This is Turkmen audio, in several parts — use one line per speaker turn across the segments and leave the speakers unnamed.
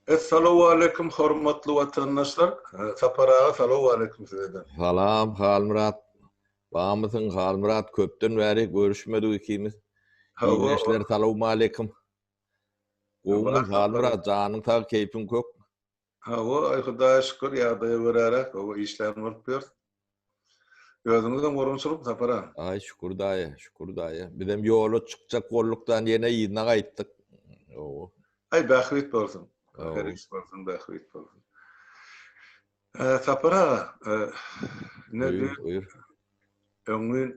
Essalowaleýkum hormatly watandaşlar Sapar aga salowaleýkum sizede. Salam Halmyrat
bamysyň Halmyrat köpden bäri görüşmedik ikimiz Ildeşler salowmaleýkum Gowmy Halmyrat janyň sag keýpiň kök. Hawa
aý Hudaýa şükür ýagdaýa göräräk işlän bolup ýörüs. Özüňizem gorunçylyk Sapar aga. Aý şükür daýy,
şükür daýy. Bizem ýola çykjak boldukdan ýene yzyna gaýtdyk. Owo.
Aý bähbit bolsun. Her iş bolsun, bähbit bolsun. Sapar aga, indi öňňin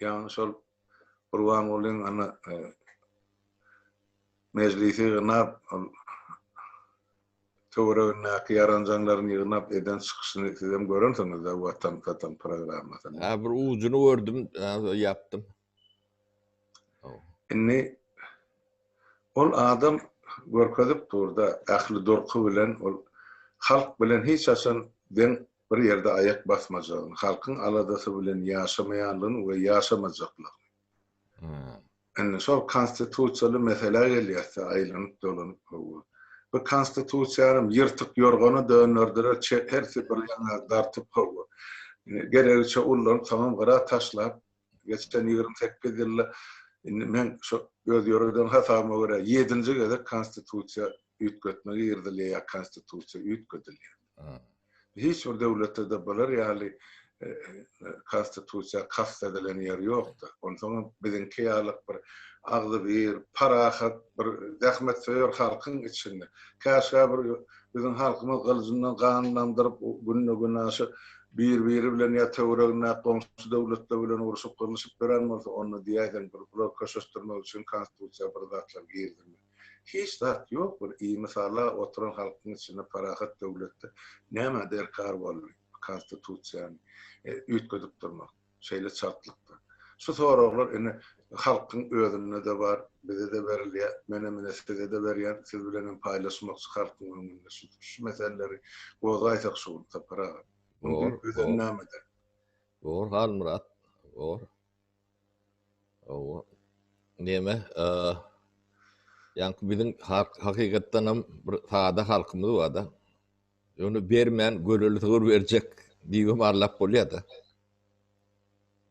Ýagny şol Gurbangulyň ana Mejlisi ýygnap, ol töweregindäki ýaranjaňlaryny ýygnap eden çykyşyny sizem görensiňiz-dä Watan satan programmasyny. Hä bir ujuny
gördüm, ýapdym.
Indi ol adam görkezip dur-da, ähli durky bilen ol halk bilen hiç haçan deň bir ýerde aýak basmajagyny, halkyň aladasy bilen ýaşamaýanlygyny we ýaşamajaklygyny. Indi şol konstitusiýaly meselä gelýäs-de, aýlanyp-dolanyp gowy. Bu konstitusiýanam ýyrtyk ýorgana dönderdiler, çe, hersi bir ýaňa dartyp gowy. Geregiçe ullanyp, soňam gyra taşlap, geçen ýigrimi sekiz ýylda, indi men şo öz ýöreden hasabyma görä, ýedinji gezek konstitusiýa üýtgetme girizilýär ýa konstitusiýa üýtgedilýär. Hiç bir döwletde-de bular ýaly Konstitusiýa kast edilen ýer ýokdy. Onsoň hem biziňki ýalyk bir agzybir, parahat, bir zähmetsöýer halkyň içinde, käşgä bir biziň halkymyz gylyjyndan gan damdyryp, günde-günaşa bir-biri bilen ýa töweregindäki goňşy döwletler bilen urşup-gyrlyşyp ýören bolsa, onda diýäýseň, bular köşeşdirmek üçin Konstitusiýa bir zatlar girizilmeli. Hiç zat ýok bir i mysala oturan halkyň içinde parahat döwletde nämä derkar boldy konstitusiýany üýtgedip durmak şeýle çaltlykda. Şu soraglar ine halkyň özünde-de bar bize-de berilýä menem ine size-de berýän siz bilenem paýlaşmakçy halkyň öňünde şu şu meseleleri gozaýsak şu gün Sapar aga. Bor bor.
Bor Halmyrat bor. Hawa. Näme, a, ýaňky biziň halk hakykatdan hem bir sada halkymyz bar-da. Ýöne bermän göreli sygyr berjek diýibem arlap bolýar-da.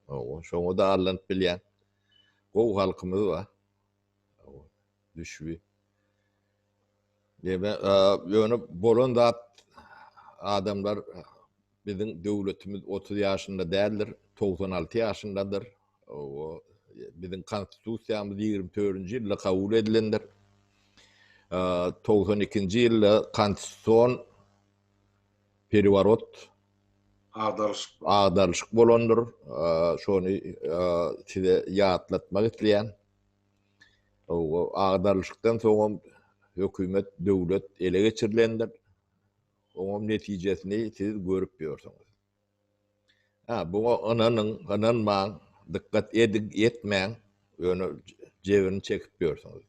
Hawa, şoňa-da arlanyp bilýän gowy halkymyz bar. Düşbi. Deme, ýöne bolan zat adamlar biziň döwletimiz 30 ýaşynda däldir, 96 ýaşyndadyr. Owo, biziň konstitusiýamyz 24-nji ýylda kabul edilendir. 92-nji ýylda konstitusion periworot agdaryşyk agdaryşyk bolandyr. Şony size ýatlatmak isleýän. Agdarlyşykdan soňam hökümet, döwlet ele geçirilendir. Oňam netijesini siz görüp ýörsüňiz. Hä, buňa ynanyň, ynanmaň, dykgat ediň, etmäň, ýöne jebirini çekip ýörsüňiz.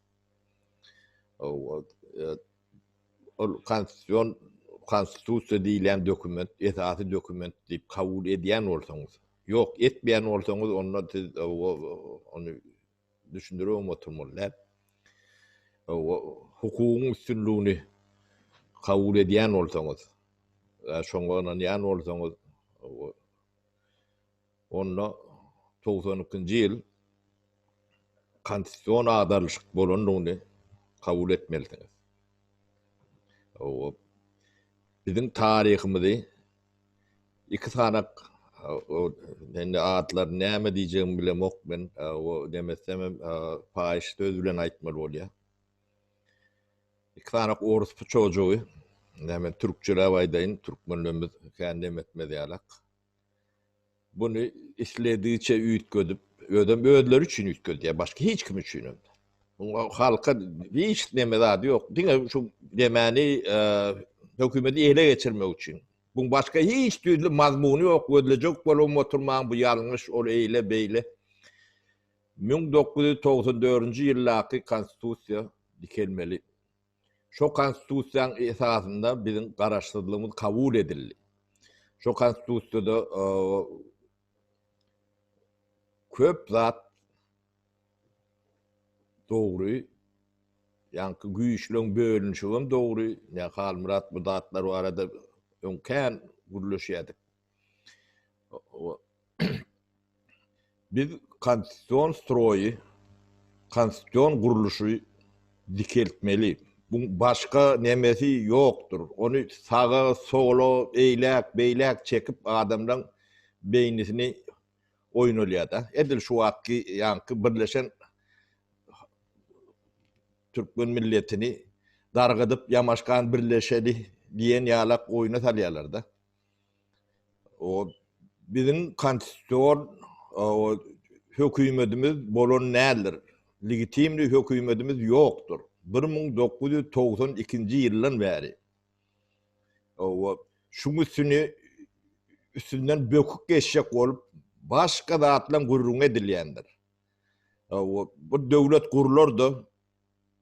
ol konstitusion konstitusiýa diýilýän dokument esasy dokument diýip kabul edýän bolsaňyz ýok etmeýän bolsaňyz onda siz e, ony düşündirip oturmaly däl e, hukugyň üstünligini kabul edýän bolsaňyz şoňa ynanýan bolsaňyz Onda togsan ikinji ýyl konstitusion agdarlyşyk bolandygyny kabul etmelisiňiz. Biziň taryhymyzy iki sanak indi atlaryny näme diýjegimi bilemok men demesem hem paýyş söz bilen aýtmaly bolýar. Iki sanak orus puçojygy näme türkçeläp aýdaýyn türkmenlerimiz kän dem etmez ýalak. Buny isledigiçe üýtgedip, özem özleri üçin üýtgedýär, başga hiç kim üçin hem. Muňa halka hiç neme zady ýok. Diňe şu demani hökümeti ele geçirmek üçin. Buň başga hiç düzli mazmuny ýok, gözlejek bolubam oturmaň, bu ýalňyş, ol eýle, beýle. 1994-nji ýyldaky konstitusiýa dikelmeli. Şo Konstitusiýaň esasynda biziň garaşsyzlygymyz kabul edildi. Şo Konstitusiýada köp zat dogry, ýaňky güýçleriň bölünişigem dogry. Halmyrat bu zatlar barada öň kän gürleşýärdik. Biz konstitusion stroýy, konstitusion gurluşy dikeltmeli. Buň başga nemesi ýokdur. Ony saga, sola, eýläk, beýläk çekip adamlaň beýnisini oýnalýar-da. Edil şu wagtky ýaňky birleşen türkmen milletini dargadyp ýamaşgan birleşeli diýen ýalak oýna salýarlar-da. O biziň konstitusion o hökümetimiz bolan däldir. Legitimli hökümetimiz ýokdur. Bir müň dokuz ýüz togsan ikinji ýyldan bäri. O şuň üstüni üstünden böküp geçjek bolup başga zatlaň gürrüňi edilýändir. O bir döwlet gurlar-da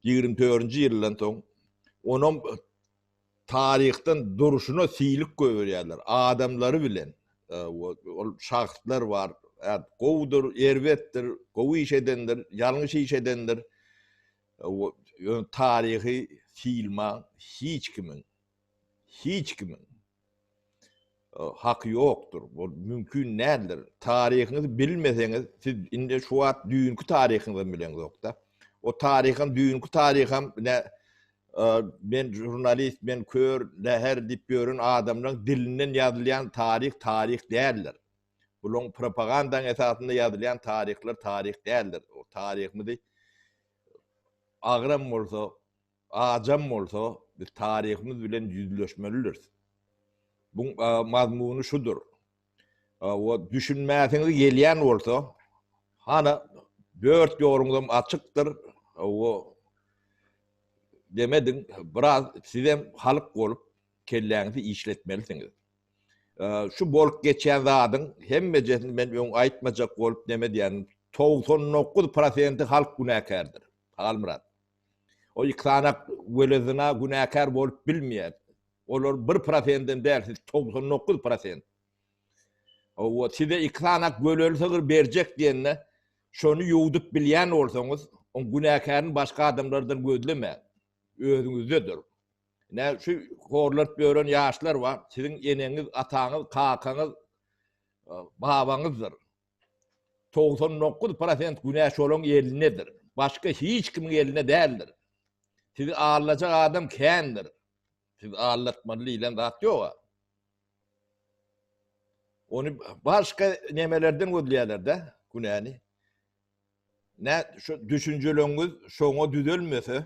ýigrimi törünji ýyldan soň onam Taryhdan durşuna silik gögerýärler. Adamlary bilen, ol şahslar bar, gowudyr, erbetdir, gowy iş edendir, ýalňyş iş edendir. Ýöne taryhy silman hiç kimiň, hiç kimiň Haky ýokdur. Bu mümkin däldir. Taryhyňyzy bilmeseňiz, siz indi şu wagt düýnki taryhyňyzam bileňizok-da. O taryham, düýnki taryham ine men žurnalist, men kör, läher diýip ýören adamlaryň dilinden ýazylýan taryh taryh däldir. Bulaň propagandaň esasynda ýazylýan taryhlar taryh däldir. O taryhymyzy agram bolsa Ajam bolsa, biz taryhymyz bilen ýüzleşmelidiris. Buň mazmuny şudur. We düşünmäsiňiz gelýän bolsa, hana dört ýoluňyzam açykdyr. We demediň, biraz sizem halyk bolup kelläňizi işletmelisiňiz. Şu bolup geçýän zadyň hemmejesini men öň aýtmajak bolup nemedýän, togsan dokuz prosenti halk günäkärdir, Halmyrat. Ol iki sany welezyna günäkär bolup bilmeýär. Olar bir prosenden däl, siz togsan dokuz prosent. Hawa, size iki sany welezy sygyr berjek diýende, şony ýuwdup bilýän bolsaňyz, oň günäkärini başga adamlardan gözlemäň. Özüňizdedir. Ine, şu horlaryp ýören ýaşlar bar, siziň eneňiz, ataňyz, kakaňyz, babaňyzdyr. togsan dokuz prosent günä şolaň elindedir, başga hiç kimiň elinde däldir. Sizi aldajak adam kändir. Sizi aldatmaly diýlen zat ýog-a. Ony başga nemelerden gözleýärler-de günäni. Nä, şu düşünjeleňiz şoňa düzelmese,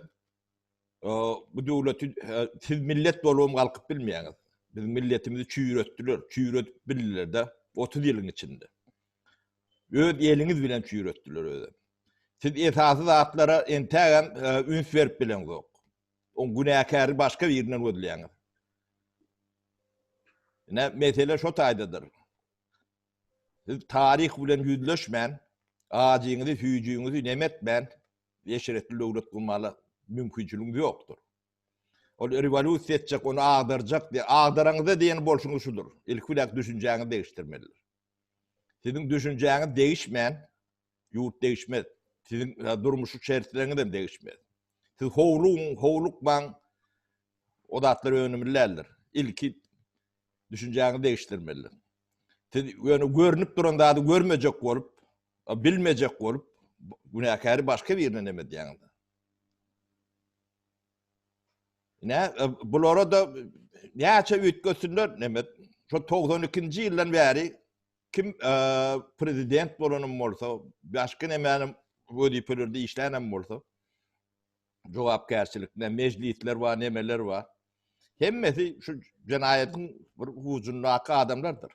bu döwleti siz millet bolubam galkyp bilmeýäňiz. Biz milletimizi çüýretdiler, çüýredip bildiler-de 30 ýylyň içinde. Öz eliňiz bilen çüýretdiler özi. Siz esasy zatlara entägem e, üns berip bileňizok. O günäkäri başga birinden gözleýäňiz. Ne mesele şo taýdadyr. Siz taryh bilen ýüzleşmän, ajyňyzy, süýjüňizi nemetmän, Eşretli döwlet gurmaga mümkinçiligimiz ýokdur. Ol rewolýusiýa etjek, ony agdarjak diýýär. Agdaraňyzda diýen bolşuňyz şudur. Ilki bilen düşünjäňizi degişdirmelidir. Siziň düşünjäňiz degişmän, ýurt degişmez. Siziň durmuşy şertleriniz hem degişmez. Siz howlugyň, howlukmaň, o zatlar önümli däldir. Ilki düşünjäňizi degişdirmelidir. Siz ýöne görnüp duran zady görmejek bolup, Bilmejek bolup, günäkäri başga birine neme edýäň onda? Nä, bulara-da näçe üýtgetsinler, neme, şo togsan ikinji ýyldan bäri kim prezident bolanym bolsa, başga nemänim wezipelerde işlänem bolsa, jogapkärçilikde mejlisler bar, nemeler bar. Hemmesi şu jenaýatyň bir hujundaky adamlardyr.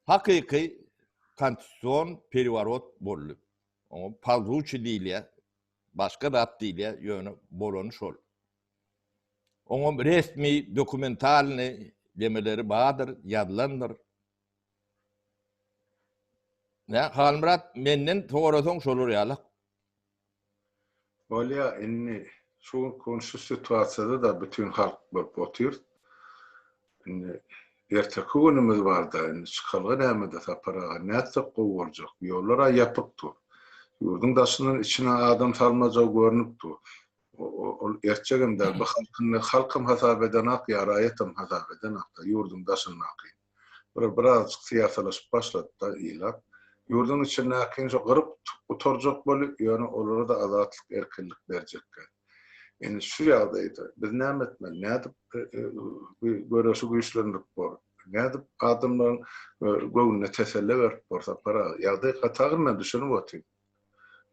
Hakyky konstitusion periworot boldy. Oňa polzuçi diýilýär, başga zat diýilýär, ýöne bolany şol. Oňa resmi dokumentalny demeleri bardyr, ýazylandyr. Halmyrat menden sorasaň şolar ýalak.
Bolýa indi şu gün şu situasiýada-da bütin halk bolup otyr. Indi erteki günümiz barda indi çykalga nämede Sapar aga nätsek gowy boljak. Ýollara ýapyk dur. Ýurduň daşyndan içine adam salmajagy görnüp dur. Ol ertjegem däl bu halkynda halkam hasap edenak ýa raýatam hasap edenak-da ýurduň daşyndaky. bir birazjyk syýasalaşyp başlady-da ilat, ýurduň içindäkini şo gyryp gutarjak boli, ýöne olara-da azatlyk erkinlik berjekkä. Indi şu ýagdaýda biz näme etmeli, nädip bu göreşi güýçlendirip bor, nädip adamlaryň göwnüne teselle berip bor, Sapar aga? Ýagdaý gaty agyr men düşünip otyryn.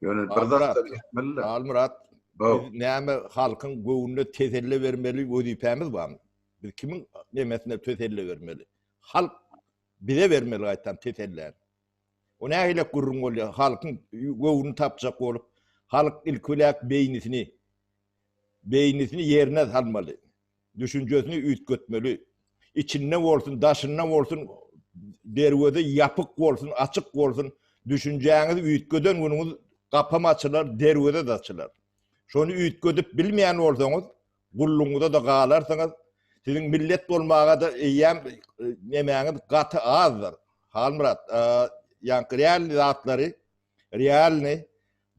Ýöne bir zat da etmeliler. Halmyrat,
biz näme halkyň göwnüne teselli bermeli wezipämiz barmy? Biz kimiň nemesine teselli bermeli? Halk bize bermeli gaýtam teselläni. O nähili gürrüň bolýar? Halkyň göwnüni tapjak bolup, halk ilki bilen beýnisini beýnisini ýerine salmaly. Düşünjesini üýtgetmeli. Içinde bolsun, daşynda bolsun, derweze ýapyk bolsun, açyk bolsun, düşünjäňizi üýtgeden günüňiz gapam açylar, derweze-de açylar. Şony üýtgedip bilmeýän bolsaňyz, gullugyňyza-da galarsyňyz. Siziň millet bolmaga-da eýýäm nemäňiz gaty azdyr. Halmyrat, ýaňky realny zatlary, realny,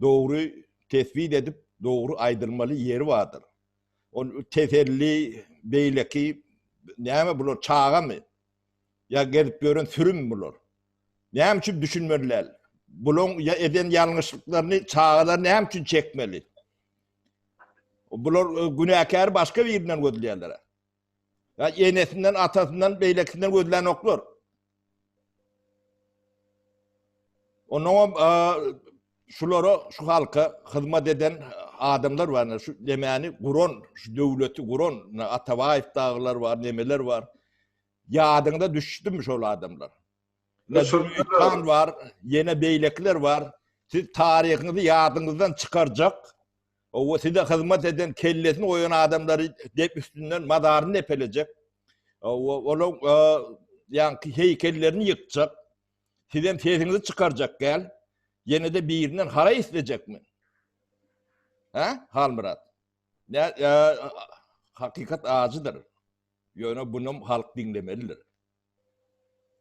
dogry tesbit edip, dogry aýdylmaly ýeri bardyr. Ol teselli beýleki näme bular çagamy? Ýa gezip ýören sürümi bular? Näme üçin düşünmeli däl? Bulaň ýa eden ýalňyşlyklaryny çagalar näme üçin çekmeli? Bular günäkäri başga birinden gözleýärler. Ýa enesinden, atasyndan, beýlekisinden gözlänoklar. Ondan hem şulara, şu halka hyzmat eden adamlar bar, şu demäni guran, şu döwleti guran, Atabaýew dagylar bar, nemeler bar. Ýadyňda düşdüm şol adamlar. Düşürmän bar, ýene beýlekiler bar. Siz taryhyňyzy ýadyňyzdan çykarjak Owo size hyzmat eden kellesini goýan adamlary dep üstünden mazaryny depelejek. Owo olaň ýaňky heýkellerini ýykjak. Sizem sesiňizi çykarjak däl. Ýenede birinden haraý islejekmi? Hä? Halmyrat. Nä hakykat ajydyr. Ýöne bunam halk diňlemelidir.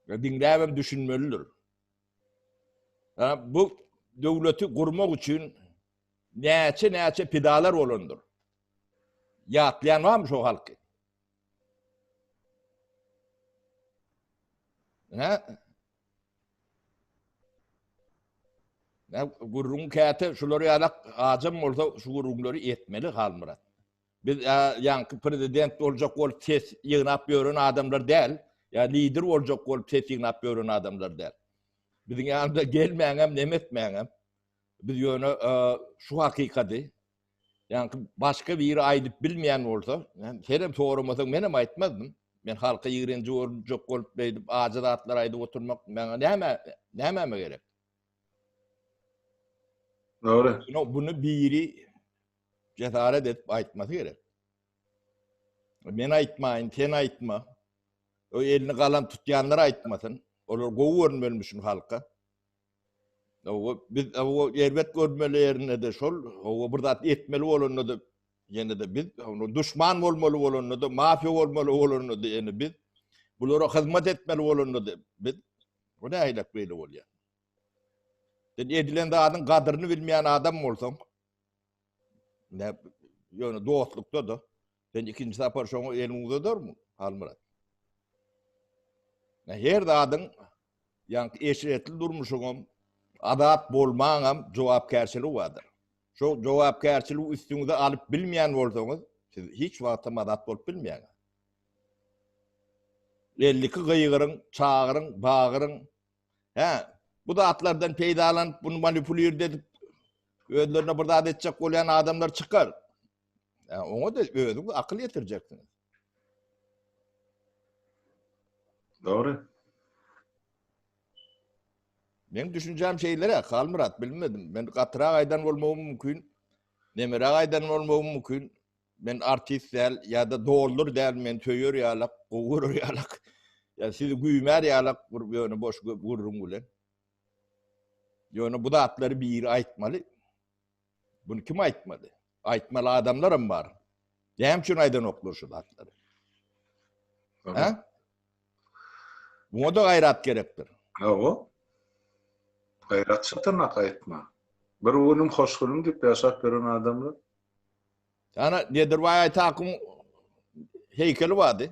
Ýa diňläbem düşünmelidir. Hä bu döwleti gurmak üçin Näçe-näçe pidalar bolandyr. Ýatlaýan barmy şo halky? Hä? Nä gurrun käte şular ýalak ajam bolsa şu gurrunlary etmeli Halmyrat. Biz ýaňky prezident boljak bolup ses ýygnap ýören adamlar däl. Ýa lider boljak bolup ses ýygnap ýören adamlar däl. Biziň ýanymyza gelmäňem, nemetmäňem. Biz ýöne şu hakykady, ýaňky başga biri aýdyp bilmeýän bolsa, men senem soramasaň menem aýtmazdym. Men halka ýigrenji görünjek bolup beýdip ajy zatlar aýdyp oturmak maňa näme, nämeme gerek?
Dogry. Ýöne bunu biri
jesaret edip aýtmasy gerek. Men aýtmaýyn, sen aýtma. O elini galam tutýanlar aýtmasyn. Olar gowy görünmeli müşin halka. Hawa, biz hawa erbet görmeli ýerinde-de şol, hawa bir zat etmeli bolanda-da ýene-de biz duşman bolmaly bolanda-da, mafiýa bolmaly bolanda-da ýene biz, bulara hyzmat etmeli bolanda-da biz, bu nähilek beýle bolýar? Sen edilen zadyň gadyryny bilmeýän adam bolsaň, ýöne dostlukda-da, Sen ikinji sapar şoňa elini uzadarmyň, Halmyrat? Men her zadyň, ýaňky eşretli durmuşyňam, azat bolmaňam jogapkärçiligi bardyr. Şo jogapkärçiligi üstüňize alyp bilmeýän bolsaňyz, siz hiç wagtam azat bolup bilmeýäňiz. Elliki gygyryň, çagyryň, bagyryň, hä, bu zatlardan peýdalanyp, bunu manipulirde edip, özlerine bir zat etjek bolýan adamlar çykar. Ä, oňa da özüňiz akyl ýetirjeksiňiz.
Dogry.
Men düşünjäm şeýlere, Halmyrat, bilmedim. Men gatyrak aýdan bolmagym mümkin. Nemeräk aýdan bolmagym mümkin. Men artist däl, ýa-da doldur däl, men söýer ýalak, gowy görer ýalak. Ýa sizi güýmär ýalak bir ýöne boş gürrüň bilen. Ýöne bu zatlary biri aýtmaly. Bunu kim aýtmaly? Aýtmaly adamlaram bar. Näme üçin aýdanoklar şu zatlary? Ha? Buna da gaýrat gerekdir. Hawa.
Gaýrat çatyrnak aýtma. Bir günüm hoş günüm diýip ýaşap ýören adamlar.
Ana Nedirbaý Aýtakyň heýkeli bardy.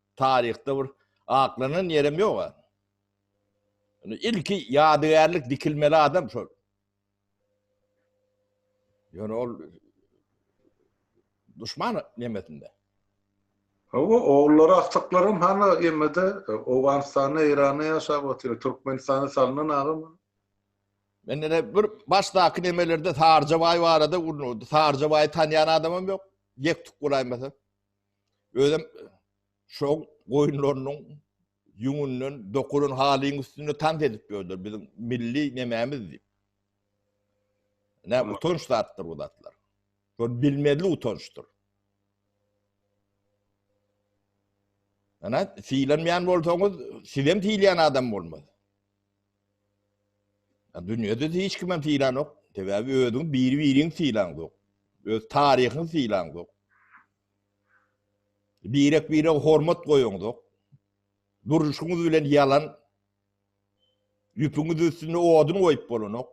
taryhda bir aklanan ýerem ýok a. Indi ilki ýadygärlik dikilmeli adam şol. Ýöne ol duşman nemesinde.
Hawa, ogullary, aksaklar hem hany emmede, e, Owganystanda, Eýranda ýaşap otyr, Türkmenistanda salnan agam. Men
ene bir başdaky nemelerde Sarjabaý barada gurnup, Sarjabaýy tanýan adamym ýok. Ýek tuk golaýmasa. Özem şo goýunlarynyň ýüňünden dokulan halyň üstünde tans edip ýörler biziň milli nemämiz diýip. Nä utanç zatdyr bu zatlar. Şol bilmezli utançdyr. Ana, silenmeyen bolsanız, sizem sileyen adam olmaz. Dünýede hiç kimem sylanok. Sebäbi özüňi biri-biriňi sylaňzok. Öz taryhyňy sylaňzok. Birek-birege hormat goýaňzok. Duruşyňyz bilen ýalan ýüpüňiz üstünde odun goýup bolanok.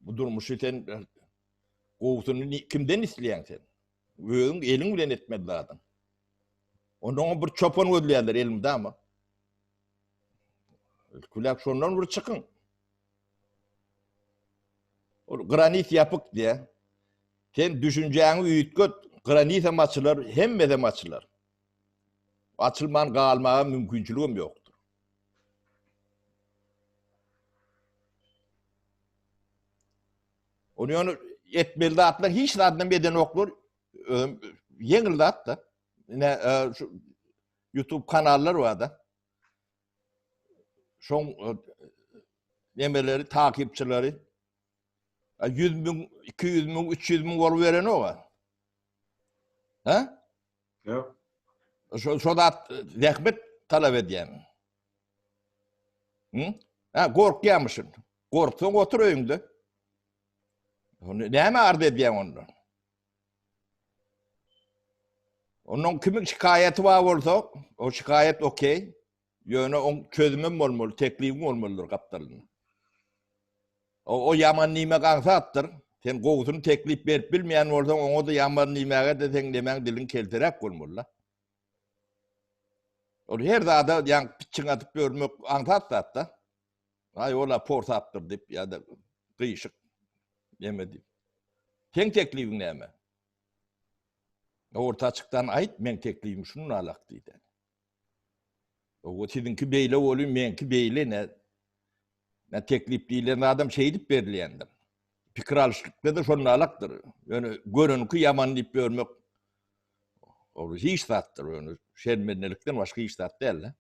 Bu durmuşy sen gowusyny kimden isleýäň sen? Özüň eliň bilen etmeli zadyň. Ondan bir çopan gözleýärler elmdama. Külek şondan bir çykyň. Ol granit ýapyk diýä. Sen düşünjäňi üýtget, granit hem açylar, hemme hem açylar. Açylman galmaga mümkinçilik hem ýok. Ony ýöne etmeli zatlar hiç zaddan bedenoklar. Ýeňil zat da. Ine e, şu YouTube kanallar bar da. Şoň e, nemeleri, takipçileri 100 e, müň, 200 müň, 300 müň bolup berenok. Ha?
Yok. Şu, şu
zat zähmet talap edýän. Hı? Ha, gorkýamyşyn. Gorksaň otur öýüňde. Näme arz edýän onda? Onun kimin şikayeti var olsa, o şikayet okey. Ýöne oň çözümem bolmaly, teklibim bolmalydyr gapdalynda. O ýaman diýmek aňsatdyr. Sen gowusyny teklip berip bilmeýän bolsaň, oňa-da ýaman diýmäge-de seň nemäň diliň keltiräp bolmaly-la. Ol her zada ýaňky pitjiň atyp ýörmek aňsat zat-da. Aý, ol-a porsapdyr diýip ýa-da gyýşyk neme diýip. Seň teklibiň näme? Orta açykdan aýt, meň teklibim şundan alak diýdi. Owo siziňki beýle woli meňki beýle nä nä teklip diýilen zadam şeýdip berilýändir. Pikir alyşlykda-da şonalakdyr. Ýöne görenki ýaman diýip ýörmek ol hiç zatdyr ýöne şermendelikden başga hiç zat däl-de.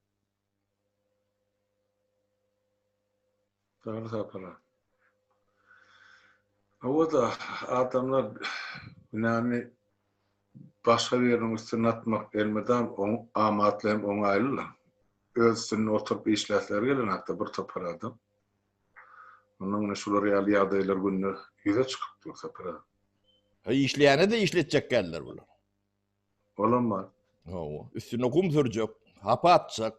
Sagja sapalar. Hawa-da, adamlar günäni başga biriniň üstüne atmak elmydam amatly hem oňaýly-la. Öz üstünde oturyp işläsleri gelenok-da bir topar adam. Onda ine şular ýaly ýagdaýlar günde ýüze çykyp dur Sapar aga. He, işleýäne-de
işletjek däldir bular. Olam
bar. Hawa,
üstüne gum sürjek, hapa atjak.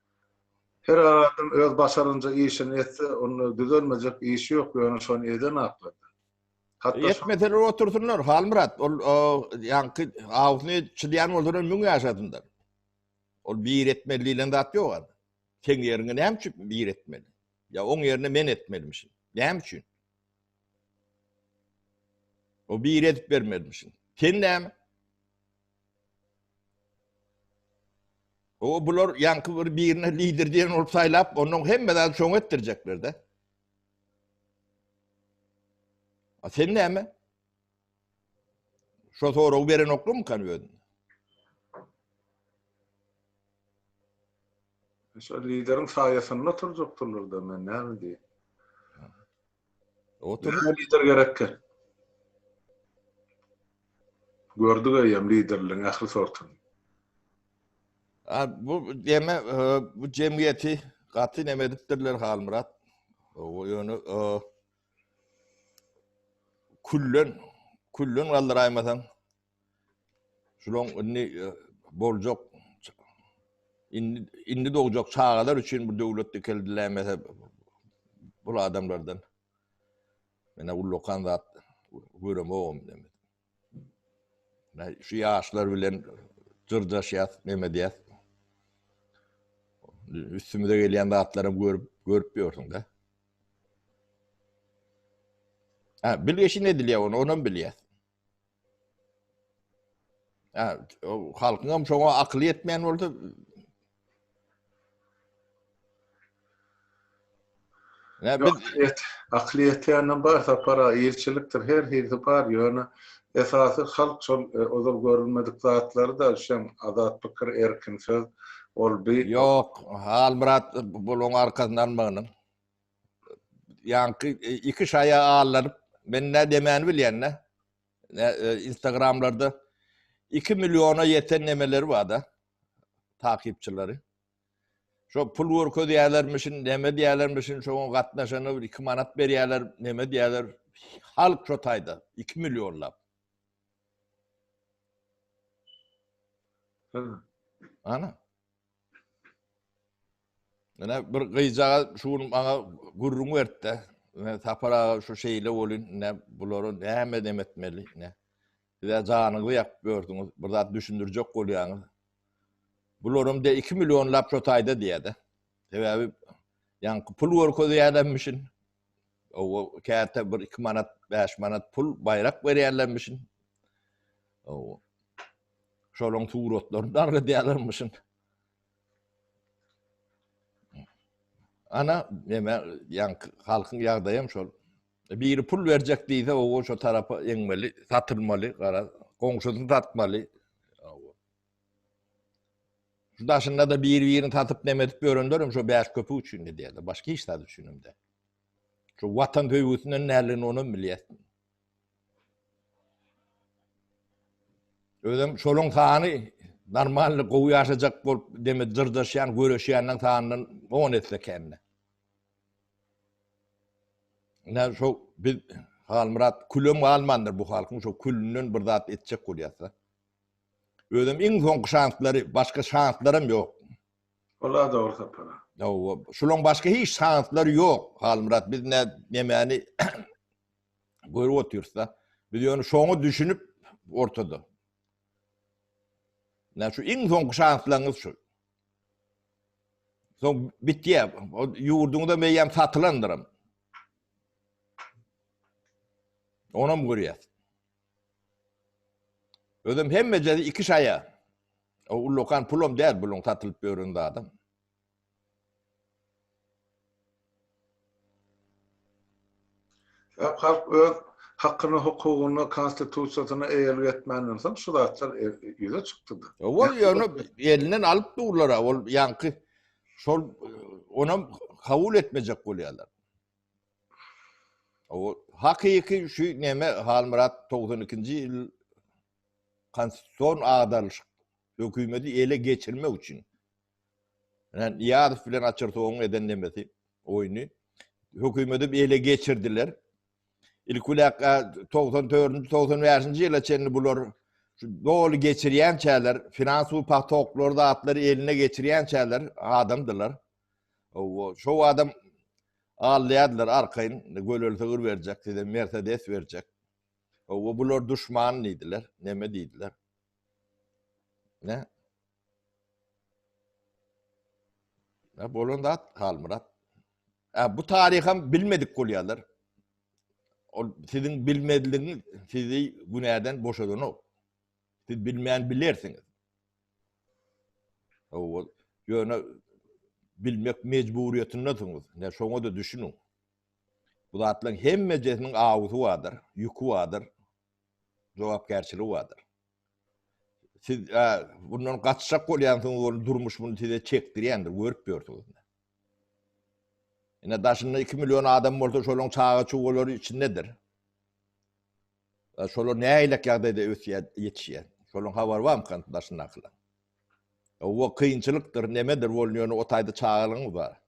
Her adam öz başarynca işini etse, onda düzelmejek iş ýok, ýöne şony eden aklynda. Hatda şo. Etmeseler
otursynlar, Halmyrat, ol o, ýaňky awusyny çydýan bolsalar müň ýaşasynlar. Ol bir etmeli diýlen zat ýok adam. Seň ýeriňe näme üçin bir etmeli? Ýa oň ýerine men etmelimişin. Näme üçin? O bir edip bermelimişin. Sen näme? O bular ýaňky bir birine lider diýen bolup saýlap, ondan hemme zady şoňa etdirjekler-de. A sen näme? Şo soragy beren oklumy kan özün?
Şo lideriň saýasynda turjakdylar-da, men näme diýen?
Otur. Lider gerekkä.
Gördük eýýäm liderligiň ähli sortuny. A
bu deme bu jemgyýeti gaty neme edipdirler Halmyrat. O ýöne küllen küllen galdyraýmasaň Şulaň indi boljak indi indi dogjak çagalar üçin bu döwlet dikeldilämese bu adamlardan mena ullakan zat göremogum demi. Ne şu yaşlar bilen jyrdaşyat neme diýär. Üstümize gelýän zatlary görüp görüp ýörsüň de. Ha, bilgeşin edilýär onu, onu bilýär. Hä, o halkyňam şoňa akyly ýetmeýän bolsa,
Ne biz Aklyýet, aklyýet ýanam bar sapara, ilçilikdir, her hilsi bar, ýöne esasy halk şol e, ozal görülmedik zatlary da şem azat pikir, erkin söz, ol bi Ýok,
Halmyrat buluň arkasyny almagynyň. Ýaňky iki şaýa allanyp, men nä demäni bilýän-dä. Instagramlarda iki milliona ýeten nemeleri bar-da, takypçylary. Şo pul görkezýärlermişin, neme diýýärlermişin, şoňa gatnaşana bir iki manat berýärler, neme diýýärler, halk şo taýda, iki millionlap. Ana. Ine bir gyjaga şu gün maňa gürrüň berdi-de, ine Sapar aga şu şeýle bolýun, ine bulara näme edem etmeli, ine. Siz-ä janyňyzy ýakyp ýörsüňiz, bir zat düşündirjek bolýaňyz. Bularam de iki millionlap şo taýda diýýä-de. Sebäbi ýaňky pul görkezýärlermişin. Owa, käte bir iki manat, bäş manat pul, baýrak berýärlermişin. Owa. Şolaryň suratlaryny da agradýalarmyşyn. Ana, näme, ýaňk halkyň ýagdaýam şol. Biri pul berjek diýse, o şo tarapa eňmeli, satylmaly, gara, goňşusyny satmaly. Şu daşynda da bir-birini satyp näme edip ýörenler hem şo bäş köpük üçin edýärler, başga hiç zat üçin hem däl. Şu watan söýgüsinden nälerini onam bilýärsiň. Özem şoluň sany normalny gowy ýaşajak bolup demi dyrjaşýan göreşýänleň sanyndan on esse kände. Ine şo biz Halmyrat külem galmandyr bu halkyň şo külünden bir zat etjek bolýasda. Özem iň soňky şanslary başga şanslaram ýok. Wala
dogry sapara. Ýa şolaň
başga hiç şanslary ýok Halmyrat biz nämäni Görüp otyrsda. Biz ýöne şoňa düşünip ortada. Nä şu iň soňky şanslaryňyz şu. Soň bitýär. O ýurduňda meýem satylandyrym. Onam görýär. Özüm hemme jedi iki şaýa. O ullakan pulum däl buluň satylyp ýören adam.
Sebäbi halk öz hakyna, hukugyna, konstitusiýasyna eýelik etmänden soň şu zatlar ýüze çykdy-da. Ol ýöne
elinden alyp durlar-a, ol ýaňky şol onam kabul etmejek bolýarlar. O hakyky şu neme Halmyrat togsan ikinji ýyl konstitusion agdarylyşyk hökümeti ele geçirmek üçin Ýani Nyýazow bilen Açyrsowyň eden nemesi, oýny hökümedim ele geçirdiler. Ilki biläk togsan dördünji, togsan bäşinji ýyla çenli bular şu doly geçirýänçäler, finansowy patoklary, zatlary eline geçirýänçäler adamdylar. Owo, şo adam alýardylar arkaýyn, göleli sygyr berjek, size Mercedes berjek. Owo, bular duşman diýdiler, neme diýdiler. Ne? Ya bolan zat Halmyrat. Ya bu tariham bilmedik bolýarlar. O siziň bilmezligiňiz sizi günäden boşadanok. Siz bilmän bilersiňiz. O ýöne bilmek mejburyýetindesiňiz. Ne şoňa da düşüniň. Bu zatlaryň hemmejesiniň awusy bardyr, ýüki bardyr. jogapkärçiligi bardyr. Siz bundan gaçjak bolýansyňyz, ol durmuş bunu size çekdirýändir, görüp ýörsüňiz. Ine daşynda 2 million adam bolsa, şolaryň çaga çuwalary içindedir. Şolar näýlek ýagdaýda ösýär, ýetişýär. Şolaryň habary barmy kan daşyndakylar? Owa kynçylykdyr, nemedir bolýan, ýöne otaýda çagalygyň bar.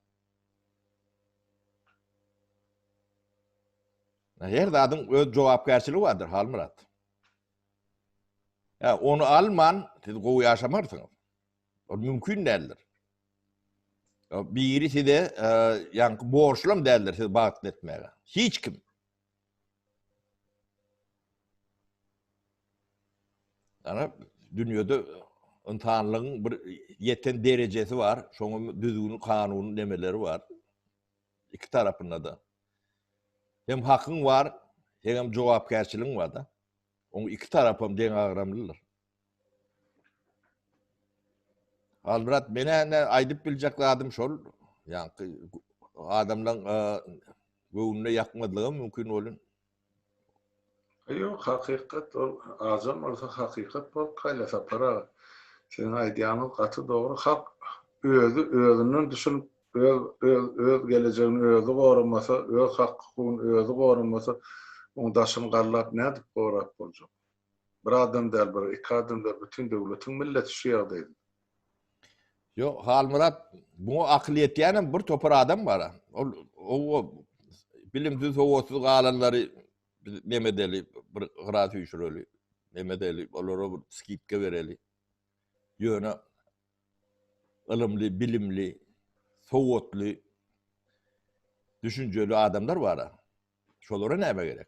Her zadyň öz jogapkärçiligi bardyr, Halmyrat. Ýa ony alman, siz gowy ýaşamarsyňyz. Ol mümkin däldir. Biri size e, ýaňky borçlam däldir sizi bagtly etmäge. Hiç kim. Yani dünyada insanlığın bir yeten derecesi var. Şoňa düzgün, kanun demeleri var. Iki tarapynda-da hem hakyň bar, hem jogapkärçiligiň bar-da. Oň iki tarapam deňagramlydyr. Halmyrat, men-ä indi aýdyp biljek zadym şol, ýaňky adamlaryň göwnüne ýakmazlygam mümkin welin, Ýok
hakykat ol azam bolsa hakykat bolup gaýlar Sapar aga. Siziň aýdýanyňyz gaty dogry halk özi özünden düşünip öz öz öz gelejegini özi goramasa öz hak hukugyny özi goramasa oň daşyny gallap nädip gorap boljak. Bir adam däl, bir, iki adam däl, bütin döwletiň milleti şu ýagdaýda.
Ýok, Halmyrat, muňa akyl ýetýänem bir topar adam bar. Ol o bilimsiz, sowatsyz galanlary neme edeli, bir gyra süýşüreli, neme edeli, olara bir skidka bereli. Ýöne ylymly, bilimli, sowatly, düşünjeli adamlar bar. Şolara näme gerek?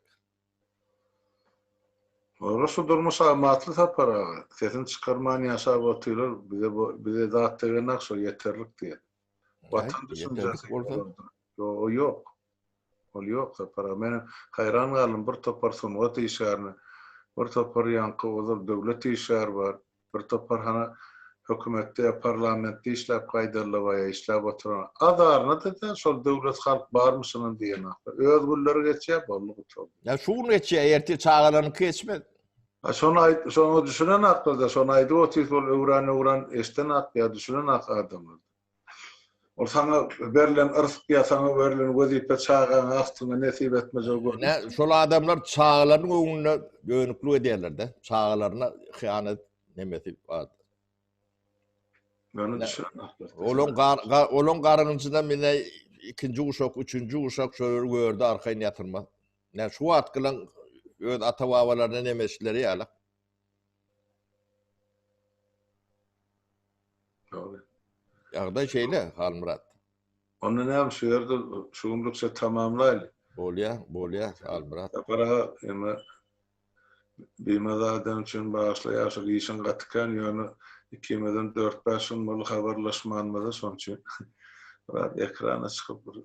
Ora şu durmuş amatly Sapar aga. Sesini çykarman ýaşap otyrar bize bu bize zat degenok şo ýeterlik diýen. Watan düşünjesi olarda ýo ýok. Ol ýok Sapar aga. Men haýran galdym bir topar sungat işgärine bir topar ýaňky ozal döwlet işgäri bar. Bir topar hany hökümetde ýa parlamentde işläp gaýdallybaýa işläp oturan azaryna-da däl şol döwlet halk barmyşynam diýen ahly. Öz günleri geçýä boldy gutardy. Ýa şu gün geçýä
ertir çagalaryňky geçmez. A şony aýt
şoňa düşünen aklyda şony aýdyp otyrys ol öwran öwran eşden ak ýa düşünen ak adamlardan. Ol saňa berlen yrsy ýa saňa berlen wezipe çagaňy agtyňy nesip etmejegi görnüp. Nä, şol adamlar
çagalarynyň öňünde dönüklik edýärler-de. Çagalaryna hyýanat nemesi bar. Meni düşünmändir.
Olaň olaň
garynjyna mine ikinji guşak, üçünji guşak şolary gördi arkaýyn ýatyrmaz. Nä şu wagtkylaň öz ata-babalaryna nemeşleri ýaly.
Ýagdaý
şeýle, Halmyrat. Onda
näme, şu ýerde şu günlükçe tamamlaýly. Bolýar, bolýar,
Halmyrat. Sapar aga, emma
bimaza adam üçin bagyşla ýaşyl işiň gaty kän, ýöne ikimizem dört-bäş gün boldy habarlaşmanymyza, şonuň üçin biraz ekrana çykyp bir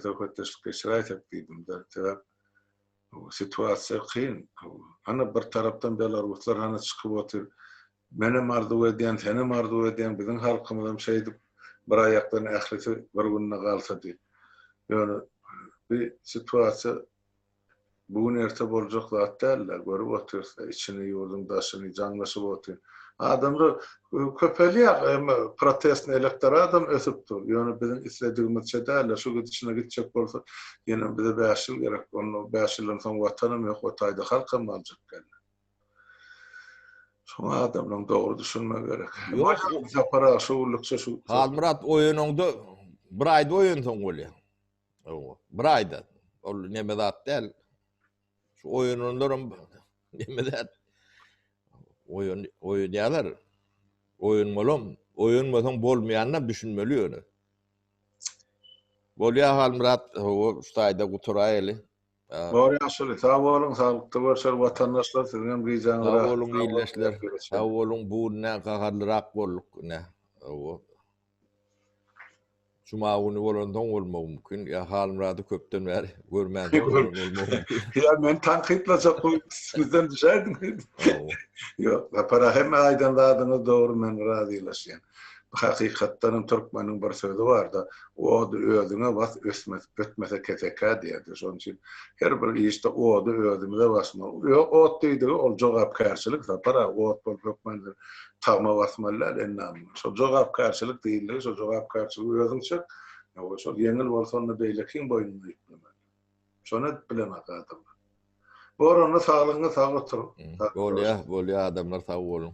söhbetdeşlik geçiräýsek diýdim-de, sebäp Situasiýa kyn. Hany bir tarapdan belaruslar hany çykyp otyr. Menem arzuw edýän, senem arzuw edýän, biziň halkymyzam şeýdip bir aýakdan ählisi bir günde galsa diýip. Ýöne bi situasiýa bu gün erte boljak zat dälde. Görüp otyrys-da içini, ýurduň daşyny jaňlaşyp otyr. Adamlar Köpelýär, eýme protestny elektoradam ösüp dur. Ýöne biziň isledigimizçe dälde, şu gidişine gitjek bolsa, ýenem bize bäş ýyl gerek. Onda bäş ýyldan soň watanam ýok, o taýda halkam galjak geldi. Şoňa adamlaň dogry düşünmegi gerek. Ýok, Sapar aga, şu günlükçe şu. Halmyrat, oýanaňda
bir aýda oýansaň bolýar. Hawa, bir aýda. Ol neme zat däl. Şu oýananlaram neme zat? Oýan oýanýarlar. Oýanmalam, oýanmasaň bolmaýanyna düşünmeli ýöne. Bolýar Halmyrat, o staýda guturaýaly. Bor
ýaşuly, sag boluň, saglykda görşer watandaşlar, siziň hem gijaňyz rahat. Sag boluň ildeşler,
sag boluň, bu gün näme gaharlyrak bolduk, ine. Owo. Juma güni bolandan bolmagy mümkin. Ýa Halmyrady köpden bäri görmän bolmagy mümkin. Ýa men tankytlajak
bolup üstüňizden düşäýdim. Ýok, Sapara hemme aýdan zadyňyz dogry men razylaşýan. Hakykatdan hem türkmeniň bir sözi barda, Ody özüňe bas ösmez, ötmese kesekä diýerdi. Şonuň üçin her bir işde ody özümize basmaly. Ýok ot diýdigi ol jogapkärçilik Sapar aga, ot bolup hökman tagma basmaly däl ennamm şol jogapkärçilik diýildi şol jogapkärçiligi özüň çek ýa-da şol ýeňil bolsa onda beýlekiň boýnuna ýüklemeli şony edip bilenok adamlar
bor onda
saglygyňyz
sag oturyň bolýa
bolýa
adamlar
sag boluň.